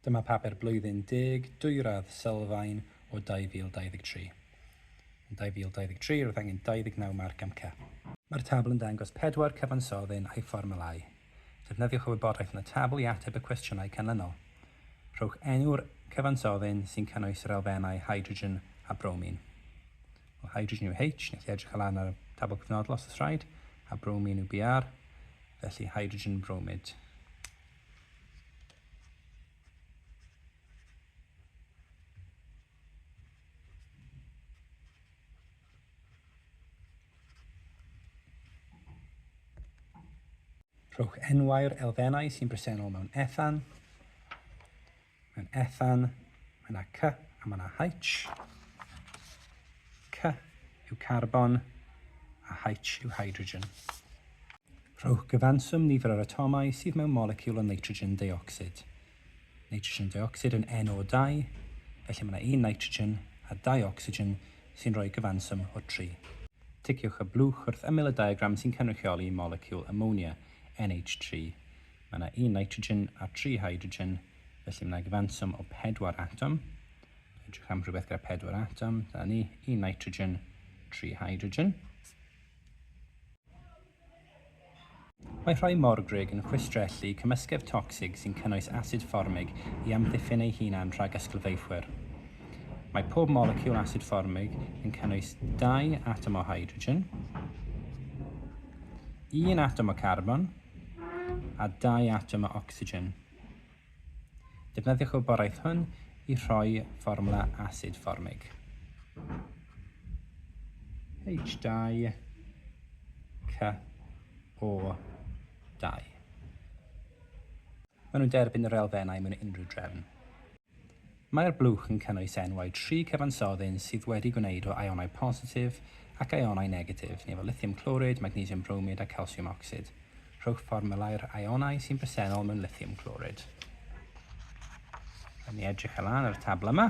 Dyma Papur Blwyddyn Deg Dwyradd Sylfaen o 2023. Yn 2023, roedd angen 29 marc am Cep. Mae'r tabl yn dangos pedwar cyfansoddyn a'i fformwlau. Defnyddiwch y wybodaeth yn y tabl i ateb y cwestiynau canlynol. Rhowch enw'r cyfansoddyn sy'n cynnwys yr elfennau hydrogen a bromin. Wel, hydrogen yw H, neu chi edrych allan ar y tabl cyfnodol os oes rhaid, a bromin yw Br, felly hydrogen bromid. Rhowch enwau'r elfennau sy'n bresennol mewn Ethan. Mae'n Ethan, mae yna C a mae yna H. C yw carbon a H yw hydrogen. Rhowch gyfanswm nifer yr atomau sydd mewn moleciwl o nitrogen deuocsid. Nitrogen deuocsid yn NO2, felly mae yna un nitrogen a dau ocsigen sy'n rhoi gyfanswm o 3. Ticiwch y blwch wrth ymyl y diagram sy'n cynrychioli moleciwl amonia, NH3. Mae yna un nitrogen a tri hydrogen, felly mae yna gyfanswm o pedwar atom. Edrych am rhywbeth gyda pedwar atom, dyna ni, un nitrogen, tri hydrogen. Mae rhoi morgrug yn chwistrellu cymysgedd tocsig sy'n cynnwys asid fformig i amddiffyn ei hunan rhag ysglyfaethwyr. Mae pob moleciwl asid fformig yn cynnwys dau atom o hydrogen, un atom o carbon, a dau atom o ocsigen. Defnyddiwch y wybodaeth hwn i rhoi fformwla asid fformig. H2 CO2. Maen nhw'n derbyn yr elfennau mewn unrhyw drefn. Mae'r blwch yn cynnwys enwau tri cyfansoddyn sydd wedi gwneud o ionau positif ac ionau negatif, neu fel lithium clorid, magnesium bromid a calsiwm ocsid. Rhowch fformulau'r ionau sy'n bresennol mewn lithium clorid. Rhaid ni edrych ar lan ar y tabl yma.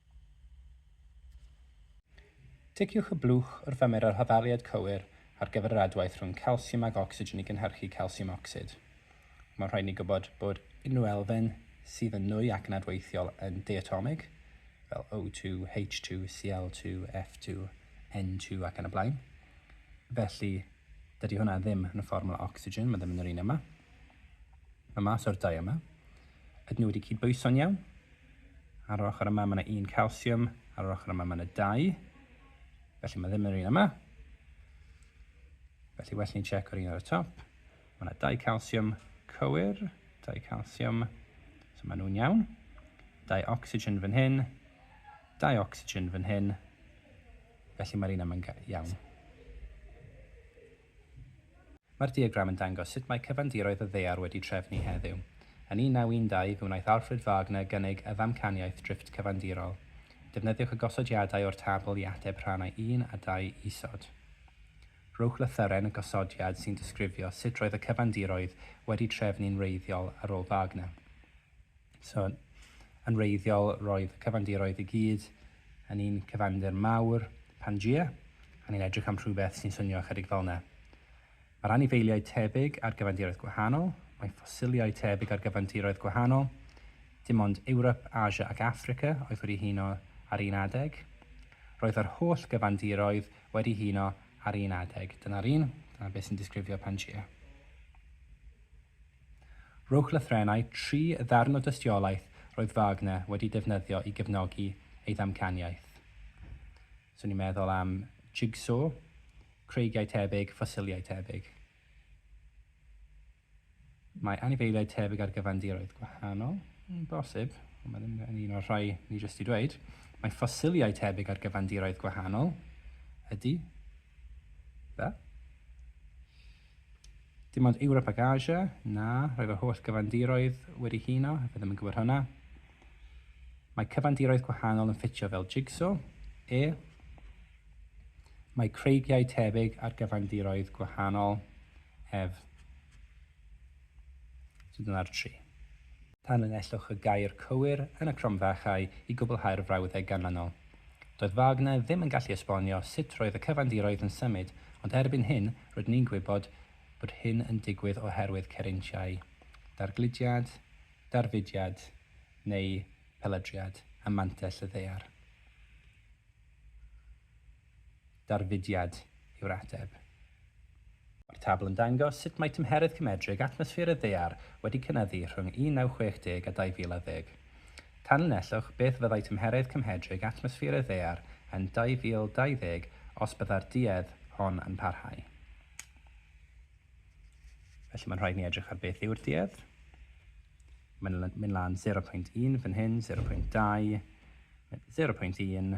Ticiwch y blwch wrth ymyro'r hoddaliad cywir ar gyfer yr adwaith rhwng calsiwm ac ocsigen i gynhyrchu calsiwm ocsid. Mae'n rhaid i ni gwybod bod unrhyw elfen sydd yn nwy ac yn adweithiol yn diatomig, fel O2, H2, Cl2, F2, N2 ac yn y blaen. Felly, dydy hwnna ddim yn y fformwla ocsigen, mae ddim yn yr un yma. Mae mas o'r dau yma. Ydyn nhw wedi cydbwyso'n iawn? Ar yr ochr yma mae yna un calsiwm, ar yr ochr yma mae yna dau. Felly mae ddim yr un yma. Felly well ni'n checko'r un ar y top. Mae yna dau calsiwm cywir, dau calsiwm, so maen nhw'n iawn. Dau oxygen fan hyn, dau oxygen fan hyn. Felly mae'r un yma'n iawn. Mae'r diagram yn dangos sut mae cyfandiroedd y ddaear wedi trefnu heddiw. Yn 1912 fe wnaeth Alfred Wagner gynnig y ddamcaniaeth drifft cyfandirol. Defnyddiwch y gosodiadau o'r tabl i ateb rhannau un a dau isod. Rhowch lythyren y gosodiad sy'n disgrifio sut roedd y cyfandiroedd wedi trefnu'n wreiddiol ar ôl Wagner. So, yn wreiddiol, roedd y cyfandiroedd i gyd yn un cyfandir mawr, Pangea, a ni'n edrych am rhywbeth sy'n swnio ychydig fel yna. Mae'r anifeiliaid tebyg ar gyfandiroedd gwahanol, mae ffosiliau tebyg ar gyfandiroedd gwahanol, dim ond Ewrop, Asia ac Affrica oedd wedi huno ar un adeg. Roedd yr holl gyfandiroedd wedi huno ar un adeg. Dyna'r un, dyna beth sy'n disgrifio Pangea. Rhowch lythrennau tri ddarn o dystiolaeth roedd Wagner wedi defnyddio i gefnogi ei ddamcaniaeth. So ni'n meddwl am jigsaw, creigiau tebyg, ffosiliau tebyg. Mae anifeiliaid tebyg ar gyfandiroedd gwahanol, yn bosib, ond mae ddim yn un o'r rhai ni jyst i dweud. Mae ffosiliau tebyg ar gyfandiroedd gwahanol, ydy, Be? Dim ond Ewrop ac Asia? Na, rhoi fy holl gyfandiroedd wedi huno, fe ddim yn gwybod hwnna. Mae cyfandiroedd gwahanol yn ffitio fel jigsaw. E. Mae creigiau tebyg ar gyfandiroedd gwahanol. Ef. So dyna'r tri. Tanlinellwch y gair cywir yn y cromfachau i gwblhau'r frawddeg ganlynol. Doedd Wagner ddim yn gallu esbonio sut roedd y cyfandiroedd yn symud, ond erbyn hyn rydyn ni'n gwybod bod hyn yn digwydd oherwydd cerintiau, dargludiad, darfudiad, neu peladriad, ym mantell y ddaear. darfudiad yw'r ateb. Mae'r tabl yn dangos sut mae tymheredd cymedrig atmosffer y Ddaear wedi cynyddu rhwng 1960 a 2010. Tanlinellwch beth fyddai tymheredd cymhedrig atmosffer y Ddaear yn 2020 os byddai'r duedd hon yn parhau. Felly mae'n rhaid ni edrych ar beth yw'r duedd. Mae'n mynd lan 0.1 fan hyn, 0.2, 0.1,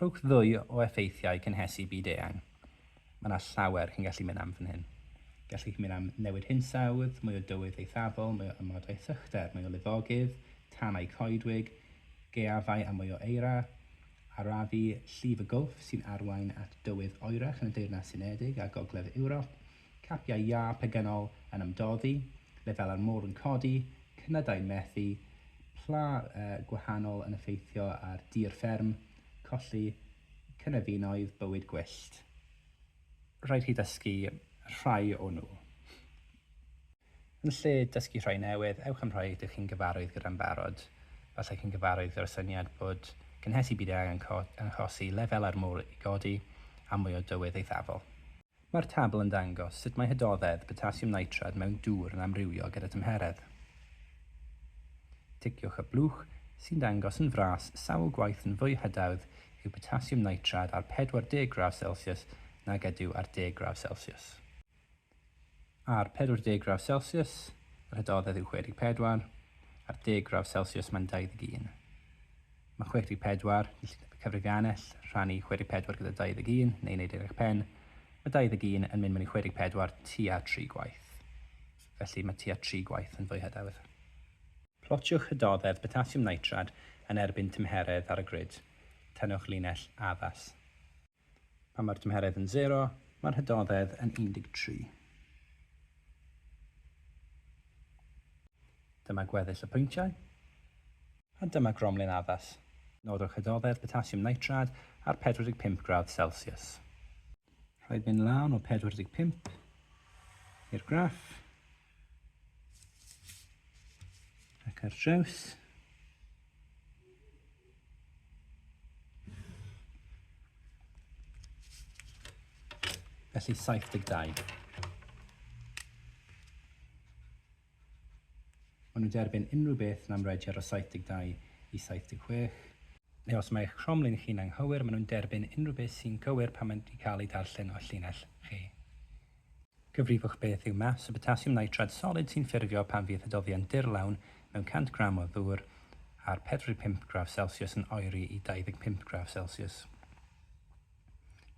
Rhowch ddwy o effeithiau cynhesu byd eang. Mae 'na llawer chi'n gallu mynd am fan hyn. Gallwch chi mynd am newid hinsawdd, mwy o dywydd eithafol, mwy o amodau sychder, mwy o lifogydd, tanau coedwig, gaeafau a mwy o eira, arafu llif y Gwlff sy'n arwain at dywydd oerach yn y Deyrnas Unedig a Gogledd Ewrop, capiau iâ pegynol yn ymdoddi, lefelau'r môr yn codi, cnydau'n methu, pla gwahanol yn effeithio ar dir fferm, colli cynefinoedd, bywyd gwyllt. Rhaid chi ddysgu rhai o nhw. Yn lle dysgu rhai newydd, ewch am rhai rydych chi'n gyfarwydd gyda'n barod. Efallai chi'n gyfarwydd gyda'r syniad bod cynhesu byd-eang yn achosi lefelau'r môr i godi a mwy o dywydd eithafol. Mae'r tabl yn dangos sut mae hydoddedd potasiwm nitrad mewn dŵr yn amrywio gyda tymheredd. Ticiwch y blwch sy'n dangos yn fras sawl gwaith yn fwy hydawdd yw potasiwm nitrad ar 40 gradd Celsius nag ydyw ar 10 gradd Celsius. Ar 40 gradd Celsius, yr hydoddedd yw 64, ar 10 gradd Celsius mae'n 21. Mae 64, Cyllideb Cyfrifiannell, rhannu 64 gyda 21, neu wneud eich pen. Mae 21 yn mynd mewn i 64 tua tri gwaith. Felly mae tua tri gwaith yn fwy hyderwydd. Plotiwch hydoddedd potasiwm nitrad yn erbyn tymheredd ar y grid. Tynnwch linell addas. Pan mae'r tymheredd yn sero, mae'r hydoddedd yn 13. Dyma gweddill y pwyntiau, a dyma gromlin addas. Nodwch hydoddedd potasiwm nitrad ar 45 gradd Celsius. Rhaid mynd lan o 45 i'r graff. Ac ar draws. Felly 72. Ond nhw'n derbyn unrhyw beth yn amrediad o 72 i 76. Neu os mae eich cromlin chi'n anghywir, maen nhw'n derbyn unrhyw beth sy'n gywir pan mae'n cael ei darllen o llinell chi. Cyfrifwch beth yw maths y botasiwm nitrad solid sy'n ffurfio pan fydd hydoddion dirlawn mewn 100 gram o ddŵr ar 45 gradd celsius yn oeri i 25 gradd celsius.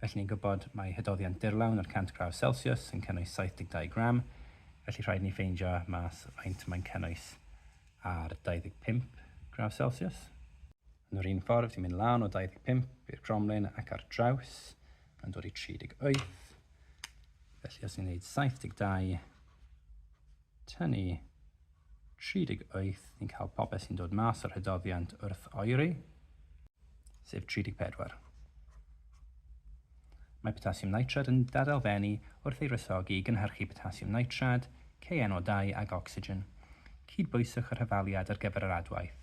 Felly ni'n gwybod mae hydoddion dirlawn ar 100 gradd celsius yn cynnwys 72 gram, felly rhaid ni ffeindio mas faint mae'n cynnwys ar 25 gradd celsius. Yn yr un ffordd, ti'n mynd lan o 25 i'r cromlin ac ar draws yn dod i 38. Felly os ni'n gwneud 72, tynnu 38, ni'n cael popeth sy'n dod mas o'r hydoddiant wrth oeri, sef 34. Mae potasiwm nitrad yn dadelfennu wrth ei rysogi i gynhyrchu potasiwm nitrad, KNO2 ag ocsigen. Cydbwyswch yr hyfaliad ar gyfer yr adwaith.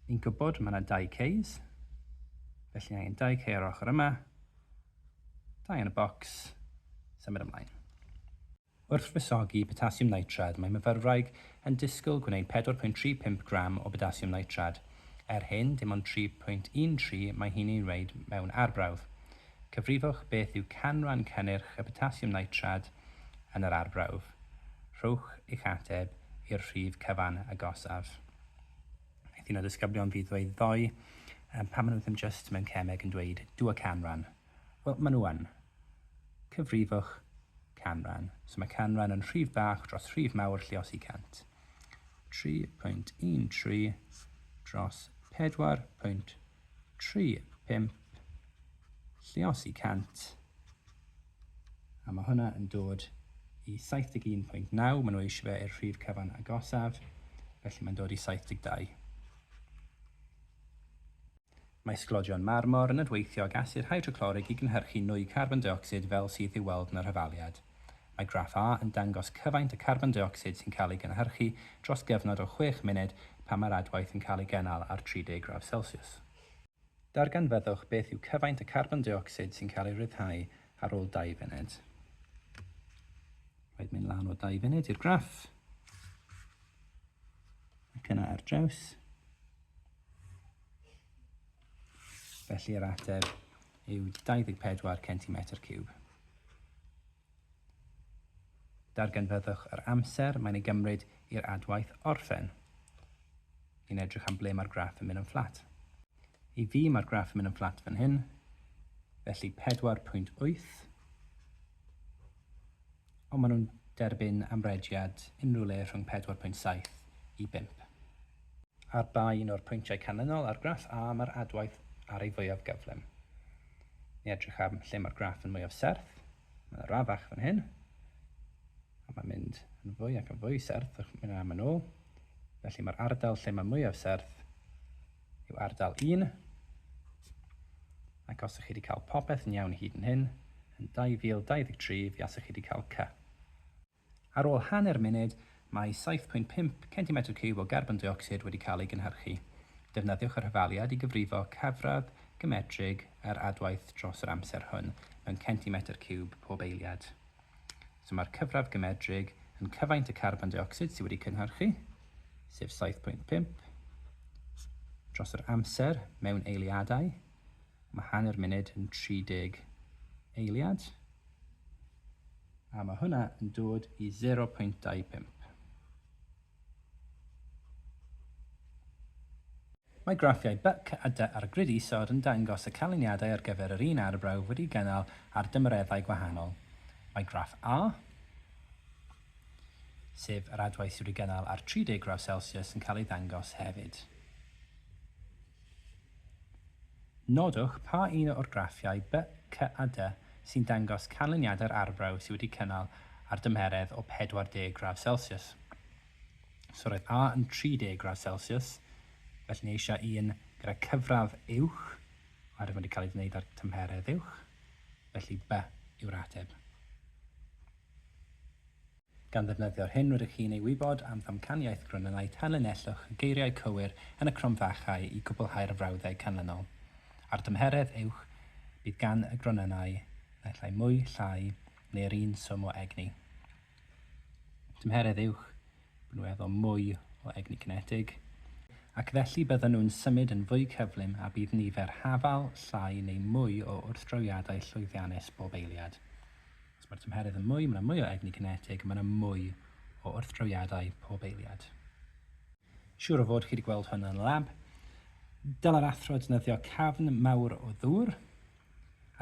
Ni'n gwybod mae yna dau case, Felly angen dau cei ar ochr yma, dau yn y bocs, symud ymlaen. Wrth wresogi potasiwm nitrad mae myfyrwraig yn disgwyl gwneud 4.35 gram o botasiwm nitrad. Er hyn, dim ond 3.13 mae hi'n ei wneud mewn arbrawf. Cyfrifwch beth yw canran cynnyrch y potasiwm nitrad yn yr arbrawf. Rhowch eich ateb i'r rhif cyfan agosaf. Wnaeth un o ddisgyblion fi ddweud ddoe, Yym, pam maen nhw ddim jyst mewn cemeg yn dweud, do a canran? Wel, maen nhw yn. Cyfrifwch canran. So mae canran yn rhif bach dros rhif mawr lliosi 100. 3.13 dros 4.13. tri, pump, llios i 100, a mae hwnna yn dod i 71.9, maen nhw eisiau fe i'r rhif cyfan agosaf, felly mae'n dod i 72. Mae sglodion marmor yn adweithio ag asid hydroclorig i gynhyrchu nwy carbon deuocsid fel sydd i'w weld yn yr hyfaliad. Mae graff A yn dangos cyfaint y carbon deuocsid sy'n cael ei gynhyrchu dros gyfnod o chwech munud pan mae'r adwaith yn cael ei gynnal ar 30 gradd Celsius. Darganfyddwch beth yw cyfaint y carbon deuocsid sy'n cael ei ryddhau ar ôl dau funud. Rhaid mynd lan o dau funud i'r graff. Ac yna ar draws. Felly yr ateb yw 24 centimetr ciwb. Darganfyddwch yr amser mae'n ei gymryd i'r adwaith orffen. Ni'n edrych am ble mae'r graff yn mynd yn fflat. I fi mae'r graff yn mynd yn fflat fan hyn, felly 4.8 Ond maen nhw'n derbyn amrediad unrhyw le rhwng 4.7 i 5. Ar ba un o'r pwyntiau canlynol ar graff A mae'r adwaith ar ei fwyaf gyflym? Ni edrych am lle mae'r graff yn mwyaf serth. Mae yna radd fach fan hyn. A mae'n mynd yn fwy ac yn fwy serth, mae'n am yn ôl. Felly mae'r ardal lle mae mwyaf serth yw ardal un, ac os ych chi wedi cael popeth yn iawn hyd yn hyn, yn 2023 fe asech chi wedi cael cy. Ar ôl hanner munud, mae 7.5 centimetr ciwb o garbon deuocsid wedi cael ei gynhyrchu. Defnyddiwch yr hyfaliad i gyfrifo cyfradd gymetrig yr adwaith dros yr amser hwn mewn centimetr ciwb pob eiliad. So mae'r cyfradd gymedrig yn cyfaint y carbon deuocsid sydd wedi cynhyrchu, sef 7.5, dros yr amser mewn eiliadau, mae hanner munud yn 30 eiliad, a mae hwnna yn dod i 0.25. Mae graffiau byc a dy ar y grid isod yn dangos y canlyniadau ar gyfer yr un arbrawf wedi'i gynnal ar dymereddau gwahanol. Mae graff A, sef yr adwaith sydd wedi'i gynnal ar 30 gradd Celsius, yn cael ei ddangos hefyd. Nodwch pa un o'r graffiau B, C a D sy'n dangos canlyniadau'r arbrawf sydd wedi cynnal ar dymheredd o 40 gradd celsius. So roedd A yn 30 gradd celsius, felly ni eisiau un gyda cyfradd uwch, oherwydd mae wedi cael ei wneud ar tymheredd uwch, felly B yw'r ateb. Gan ddefnyddio'r hyn rydych chi'n ei wybod am ddamcaniaeth Grynenaidd tanlinellwch y geiriau cywir yn y cromfachau i gwblhau'r frawddeg canlynol. Ar dymheredd uwch, bydd gan y Grynenau naill ai mwy, llai, neu yr un swm o egni. Tymheredd uwch, bydden nhw efo mwy o egni cinetig, ac felly bydden nhw'n symud yn fwy cyflym a bydd nifer hafal, llai neu mwy o wrthdrawiadau llwyddiannus bob eiliad. Os mae'r tymheredd yn mwy, mae yna mwy o egni cinetig a mae yna mwy o wrthdrawiadau pob eiliad. Siŵr o fod chi wedi gweld hwn yn y lab. Dylai'r athro defnyddio cafn mawr o ddŵr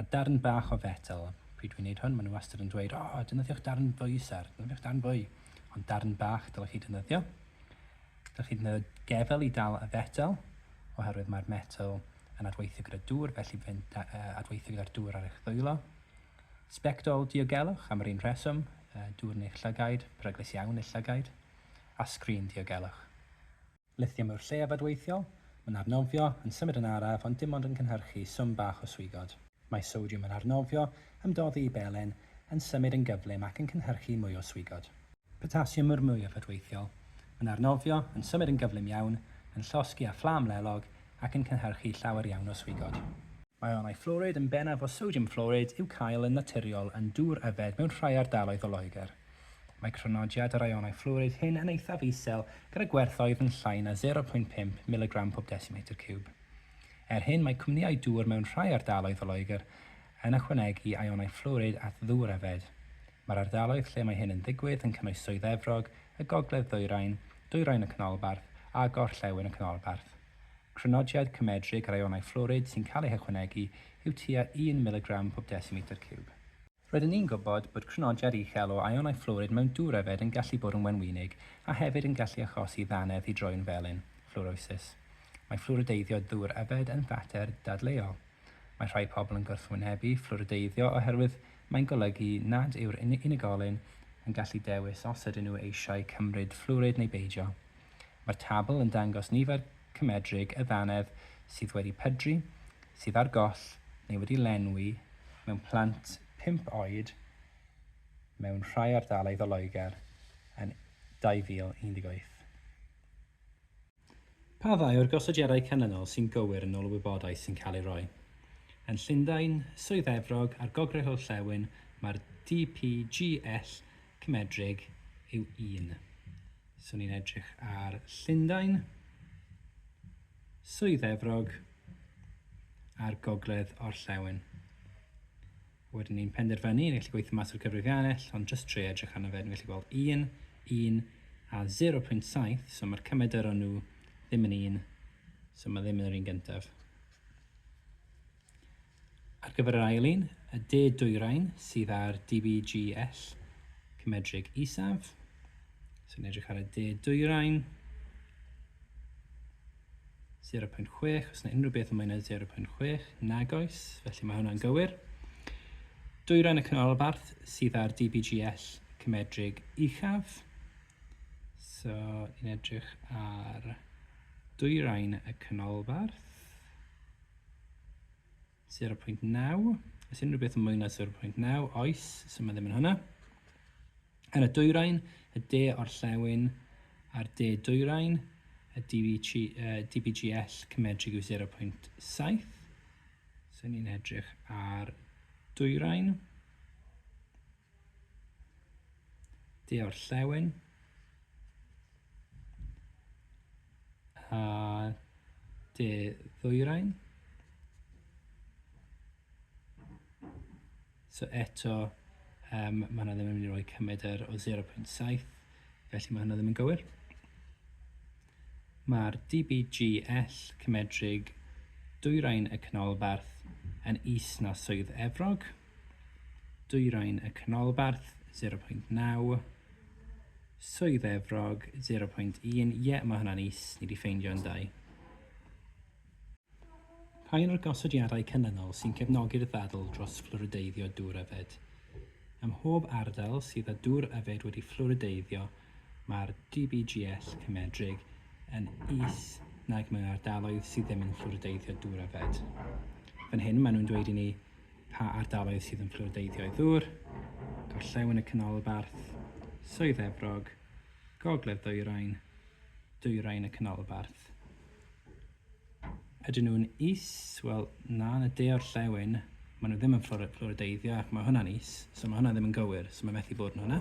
a darn bach o fetel. Pryd dwi'n gwneud hwn, maen nhw wastad yn dweud, o, oh, defnyddiwch darn fwy, sir, defnyddiwch darn fwy. Ond darn bach dylech chi defnyddio. Dylech chi ddefnyddio gefel i dal y fetel, oherwydd mae'r metel yn adweithio gyda dŵr, felly fe'n adweithio gyda'r dŵr ar eich ddwylo. Sbectol diogelwch, am yr un rheswm, dŵr neu'ch llygaid, peryglus iawn i'r llygaid, a sgrin diogelwch. Lithium yw'r lleiaf adweithiol, mae'n arnofio, yn symud yn araf ond dim ond yn cynhyrchu swm bach o swigod. Mae sodiwm yn arnofio, ymdoddi i belen, yn symud yn gyflym ac yn cynhyrchu mwy o swigod. Potasiwm yw'r mwyaf adweithiol, mae'n arnofio, yn symud yn gyflym iawn, yn llosgi â fflam lelog, ac yn cynhyrchu llawer iawn o swigod. Mae ionau fflwrid yn bennaf o sodiwm fflwrid i'w cael yn naturiol yn dŵr yfed mewn rhai ardaloedd o Loegr. Mae crynodiad yr ionau fflwrid hyn yn eithaf isel gyda gwerthoedd yn llai na 0.5 miligram pob desimetr ciwb. Er hyn mae cwmnïau dŵr mewn rhai ardaloedd o Loegr yn ychwanegu ionau fflwrid at ddŵr yfed. Mae'r ardaloedd lle mae hyn yn digwydd yn cynnwys Swydd Efrog, y Gogledd Ddwyrain, Dwyrain y Canolbarth a Gorllewin y Canolbarth. Crynodiad cymedrig rayonau fflwrid sy'n cael eu hychwanegu yw tua un miligram pob desimetr ciwb. Rydyn ni'n gwybod bod crynodiad uchel o ayonau fflwrid mewn dŵr yfed yn gallu bod yn wenwynig a hefyd yn gallu achosi ddannedd i droi'n felyn, fflwrosis. Mae fflwrideiddio dŵr yfed yn fater dadleuol. Mae rhai pobl yn gwrthwynebu fflwrideiddio oherwydd mae'n golygu nad yw'r unigolyn yn gallu dewis os ydyn nhw eisiau cymryd fflwrid neu beidio. Mae'r tabl yn dangos nifer cymedrig y ddannedd sydd wedi pydru, sydd ar goll neu wedi lenwi mewn plant pump oed mewn rhai ardaloedd o Loegr yn 2018. Pa ddau o'r gosodiadau canlynol sy'n gywir yn ôl y wybodaeth sy'n cael ei roi? Yn Llundain, Swydd Efrog a'r Gogledd Orllewin mae'r DPGL cymedrig yw un. So ni'n edrych ar Llundain, Swydd Efrog a'r Gogledd Orllewin. Wedyn ni'n penderfynu, ni'n gallu gweithio mas yr cyfrifiannell, ond jyst trio edrych arno fe, ni'n gallu gweld 1, 1 a 0.7, so mae'r cymedr nhw ddim yn un, so mae ddim yn yr un gyntaf. Ar gyfer yr ail un, y de dwyrain sydd ar DBGL, cymedrig isaf, so ni'n edrych ar y de dwyrain, 0.6, os yna unrhyw beth yn mwy na 0.6, nag oes, felly mae hwnna'n gywir. Dwyrain y canolbarth sydd â'r DBGL cymedrig uchaf. So, ni'n edrych ar dwyrain y canolbarth. 0.9, oes unrhyw beth yn mwy na 0.9, oes, so mae ddim yn hwnna. Yn y dwyrain, y de orllewin a'r de dwyrain, y DBG, uh, DBGL cymedrig yw 0.7. So ni'n edrych ar dwyrain. Di o'r llewn. A de ddwyrain. So eto, um, mae hwnna ddim yn mynd i roi cymryd yr o 0.7, felly mae hwnna ddim yn gywir. Mae'r DBGL cymedrig Dwyrain y Canolbarth yn is na Swydd Efrog, Dwyrain y Canolbarth 0.9, Swydd Efrog 0.1, ie mae hwnna'n is, ni wedi ffeindio yn dau. Pa un o'r gosodiadau canlynol sy'n cefnogi'r ddadl dros fflwrideiddio dŵr yfed? Ym mhob ardal sydd â dŵr yfed wedi fflwrideiddio Mae'r GBGS cymedrig yn is nag mewn ardaloedd sydd ddim yn fflwrideiddio dŵr a fed. Fan hyn maen nhw'n dweud i ni pa ardaloedd sydd yn fflwrideiddio i ddŵr, gorllewin y canolbarth, Swydd Efrog, gogledd ddwyrain, dwyrain y canolbarth. Ydyn nhw'n is? Wel, na, yn y de o'r llewyn, maen nhw ddim yn fflorideiddio ac mae hwnna'n is, so mae hwnna ddim yn gywir, so mae methu bod yn hwnna.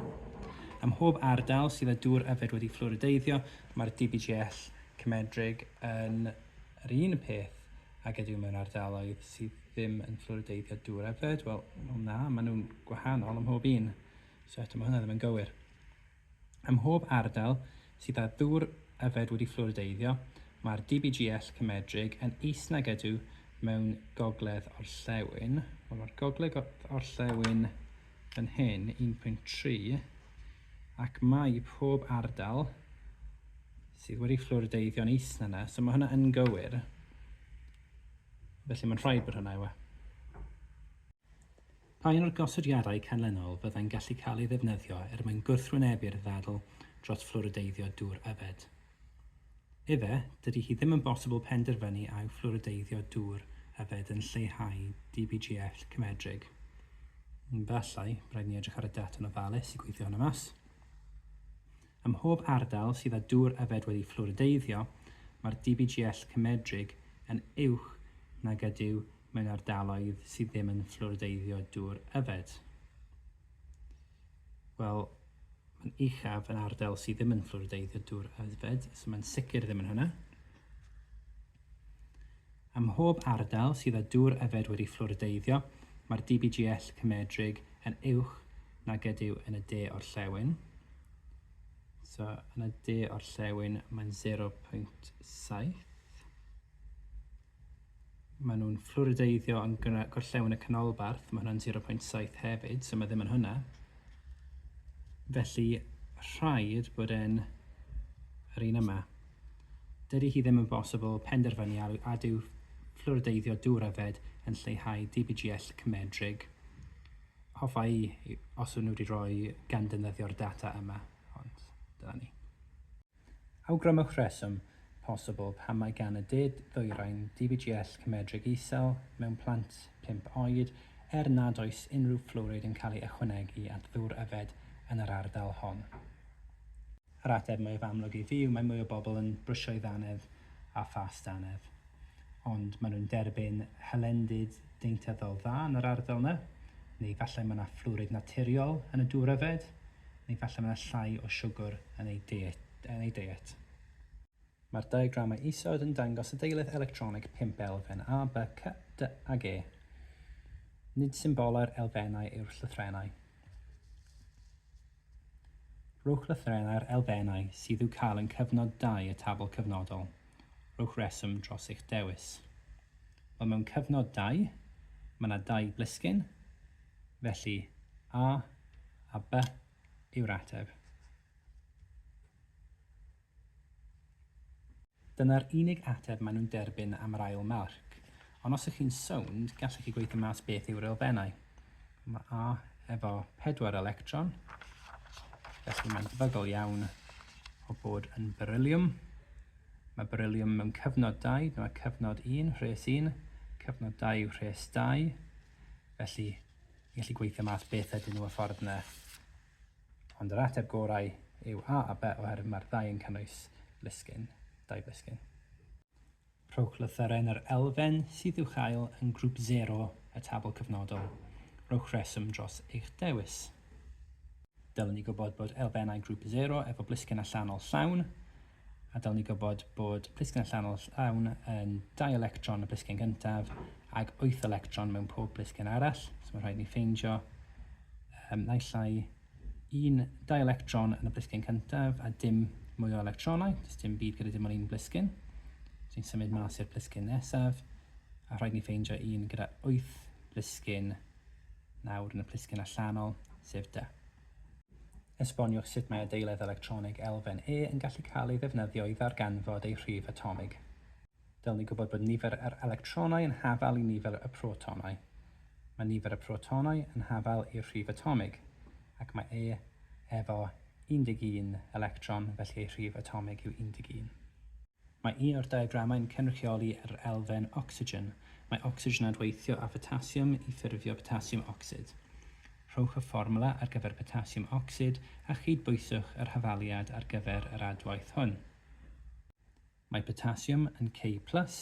Ym mhob ardal sydd â dŵr yfed wedi fflorideiddio, mae'r DBGL cymedrig yn yr un peth ag ydyw mewn ardaloedd sydd ddim yn fflorideiddio dŵr yfed. Wel, na, maen nhw'n gwahanol ym mhob un, so eto mae hwnna ddim yn gywir. Ym mhob ardal sydd â dŵr yfed wedi fflworideiddio, mae'r DBGL cymedrig yn is nag ydyw mewn gogledd orllewin. Wel, mae'r gogledd orllewin yn hyn, 1.3, ac mae pob ardal sydd wedi fflwrideiddio'n is na na, so mae hwnna yn gywir. Felly mae'n rhaid bod hwnna yw e. Pa un o'r gosodiadau canlynol fyddai'n gallu cael ei ddefnyddio er mwyn gwrthwynebu'r ddadl dros fflwrideiddio dŵr yfed? Efe, dydy hi ddim yn bosibl penderfynu a yw fflwrideiddio dŵr yfed yn lleihau DBGF cymedrig. Efallai, rhaid ni edrych ar y data'n ofalus i gweithio hwnna mas. Ym mhob ardal sydd â dŵr yfed wedi fflwrideiddio, mae'r DBGL cymedrig yn uwch nag ydyw mewn ardaloedd sydd ddim yn fflwrideiddio dŵr yfed? Wel, mae'n uchaf yn ardal sydd ddim yn fflwrideiddio dŵr yfed, so mae'n sicr ddim yn hwnna. Ym mhob ardal sydd â dŵr yfed wedi fflwrideiddio, mae'r DBGL cymedrig yn uwch na gydyw yn y de o'r llewyn. So, yn y de o'r llewyn mae'n 0.7. Maen nhw'n fflwrideiddio yn gorllewin y canolbarth, mae hwnna'n 0.7 hefyd, so mae ddim yn hwnna. Felly rhaid bod e'n yr un yma. Dydy hi ddim yn bosibl penderfynu ar a dyw fflwrideiddio dŵr yfed yn lleihau DBGL cymedrig. Hoffa i os nhw wedi rhoi gan defnyddio'r data yma, ond dyna ni. Awgrymwch rheswm posibl pam mae gan y de-ddwyrain DBGL cymedrig isel mewn plant pump oed er nad oes unrhyw fflwrid yn cael ei ychwanegu at ddŵr yfed yn yr ardal hon. Yr ateb mwyaf amlwg i fi yw mae mwy o bobl yn brwsio'i ddannedd â phas dannedd. Ond maen nhw'n derbyn hylendid deintyddol dda yn yr ardal 'na, neu falle mae 'na fflwrid naturiol yn y dŵr yfed, neu falle mae 'na llai o siwgr yn eu deiet. Yn eu deiet. Mae'r diagramau isod yn dangos y deiledd electronig pump elfen A, B, C, D ag E. Nid symbolau'r elfennau yw'r llythrennau. Rhowch lythrennau'r elfennau sydd i'w cael yn cyfnod 2 y tabl cyfnodol. Rhowch reswm dros eich dewis. Wel mewn cyfnod 2, mae yna dau blisgyn, felly A a B yw'r ateb. Dyna'r unig ateb maen nhw'n derbyn am yr ail marc. Ond os ych chi'n sownd, gallech chi gweithio mas beth yw'r elfennau. Mae A efo pedwar electron, felly mae'n debygol iawn o bod yn beryliwm. Mae beryliwm mewn cyfnod 2, dyma cyfnod 1, rhes 1, cyfnod 2 yw rhes 2, felly i allu gweithio mas beth ydyn nhw y ffordd yna. Ond yr ateb gorau yw A a B oherwydd mae'r ddau yn cynnwys lusgyn, dau blisgyn. Rhowch lythyren yr elfen sydd i'w chael yn grŵp sero y tabl cyfnodol. Rhowch rheswm dros eich dewis. Dylwn i gwybod bod elfennau grŵp sero efo blisgyn allanol llawn, a dylwn i gwybod bod plisgyn allanol llawn yn dau electron y plisgyn gyntaf ac wyth electron mewn pob plisgyn arall, so mae'n rhaid ni ffeindio um, naill ai un dau electron yn y plisgyn cyntaf a dim mwy o electronau, does dim byd gyda dim ond un blisgyn. So ni'n symud mas i'r blisgyn nesaf, a rhaid ni ffeindio un gyda 8 blisgyn nawr yn y plisgyn allanol, sef da. Esboniwch sut mae adeiledd electronig elfen E yn gallu cael ei ddefnyddio i ddarganfod ei rhif atomig. Dylwn ni gwybod bod nifer yr electronau yn hafal i nifer y protonau. Mae nifer y protonau yn hafal i'r rhif atomig, ac mae E efo 11 electron, felly ei rhif atomig yw 11. Mae un o'r diagramau'n cynrychioli yr elfen ocsigen. Mae ocsigen adweithio â photassiwm i ffurfio potasiwm ocsid. Rhowch y fformwla ar gyfer potasiwm ocsid a chyd-bwyswch yr hafaliad ar gyfer yr adwaith hwn. Mae potasiwm yn K plus,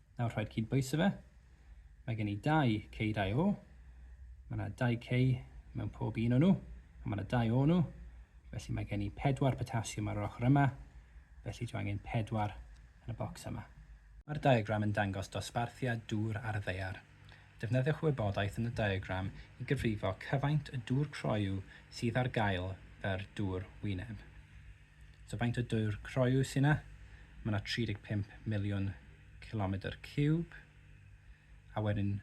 Nawr rhaid cyd-bwyso fe. Mae gen i dau K, dau O. Mae yna dau K mewn pob un o'n nhw, a mae yna dau O nhw. Felly mae gen i pedwar potasiwm ar yr ochr yma, felly dwi angen pedwar yn y bocs yma. Mae'r diagram yn dangos dosbarthiad dŵr ar y ddaear. Defnyddiwch y wybodaeth yn y diagram i gyfrifo cyfaint y dŵr croyw sydd ar gael fer dŵr wyneb. So faint o dŵr croyw sy'n na? Mae na 35 miliwn cilomedr ciwb. A wedyn,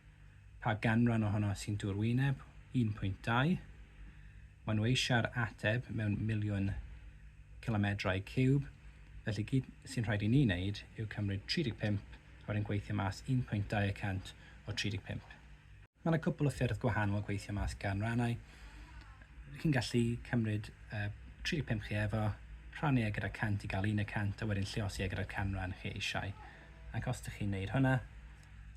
pa ganran ohono sy'n dŵr wyneb? 1.2. Mae nhw eisiau'r ateb mewn miliwn cilomedrau ciwb. Felly gyd sy'n rhaid i ni wneud yw cymryd 35 a wedyn gweithio mas 1.2 y cant o 35. Mae yna cwpl o ffyrdd gwahanol o gweithio mas ganrannau. Chi'n gallu cymryd y 35 chi efo, rhannu e gyda 100 i gael un y 100 a wedyn lliosi e gyda'r canran chi eisiau. Ac os dych chi'n wneud hwnna,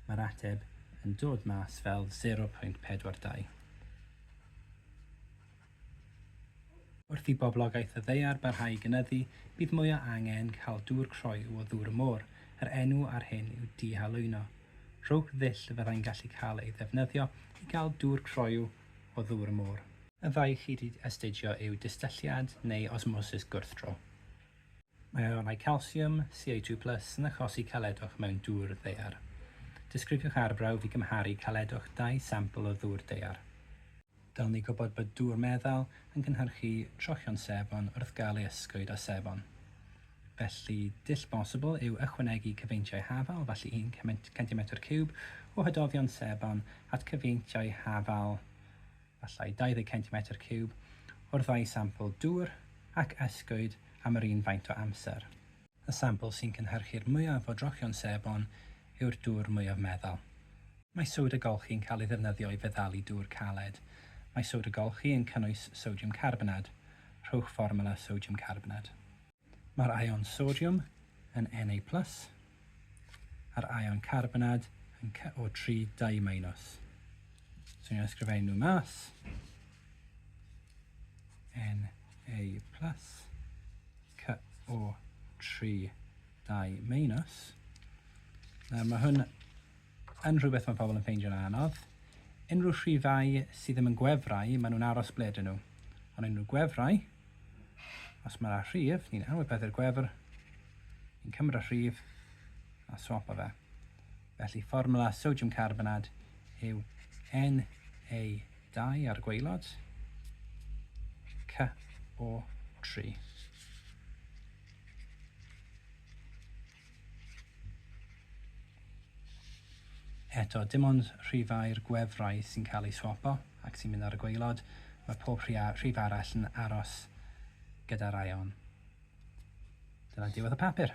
mae'r ateb yn dod mas fel 0.42. Wrth i boblogaeth y ddaear barhau i gynyddu, bydd mwy o angen cael dŵr croyw o ddŵr y môr, yr enw ar hyn yw dihalwyno. Rhowch ddull y fyddai'n gallu cael ei ddefnyddio i gael dŵr croyw o ddŵr y môr. Y ddau chi 'di astudio yw distylliad neu osmosis gwrthdro. Mae aelodau calsiwm, Ca2 plus, yn achosi caledwch mewn dŵr ddaear. Disgrifiwch arbrawf i gymharu caledwch dau sampl o ddŵr daear. Dylwn ni gwybod bod dŵr meddal yn cynhyrchu trochion sebon wrth gael ei ysgwyd â sebon. Felly, dull bosibl yw ychwanegu cyfeintiau hafal, felly un centimetr ciwb o hydofion sebon at cyfeintiau hafal, efallai 20 centimetr ciwb, o'r ddau sampl dŵr, ac ysgwyd am yr un faint o amser. Y sampl sy'n cynhyrchu'r mwyaf o drochion sebon yw'r dŵr mwyaf meddal. Mae soda golchi yn cael ei ddefnyddio i feddalu dŵr caled. Mae soda golchi yn cynnwys sodiwm carbonad. Rhowch fformwla sodiwm carbonad. Mae'r aeon sodiwm yn Na plus a'r aeon carbonad yn CO3 dau minus. So ni'n ysgrifennu nhw mas. NA plus CO 3 2 minus. Nawr mae hwn yn rhywbeth mae pobl yn ffeindio'n anodd. Unrhyw rhifau sydd ddim yn gwefrau, maen nhw'n aros ble dyn nhw. Ond unrhyw gwefrau, os mae'r a rhif, ni'n anwybyddu'r gwefr, ni'n cymryd y rhif a swap o fe. Felly fformwla sodiwm carbonad yw Na2 ar y gwaelod, CO3. Eto, dim ond rhifau'r gwefrau sy'n cael eu swopo ac sy'n mynd ar y gwaelod, mae pob rhif arall yn aros gyda'r aeon. Dyna diwedd y papur.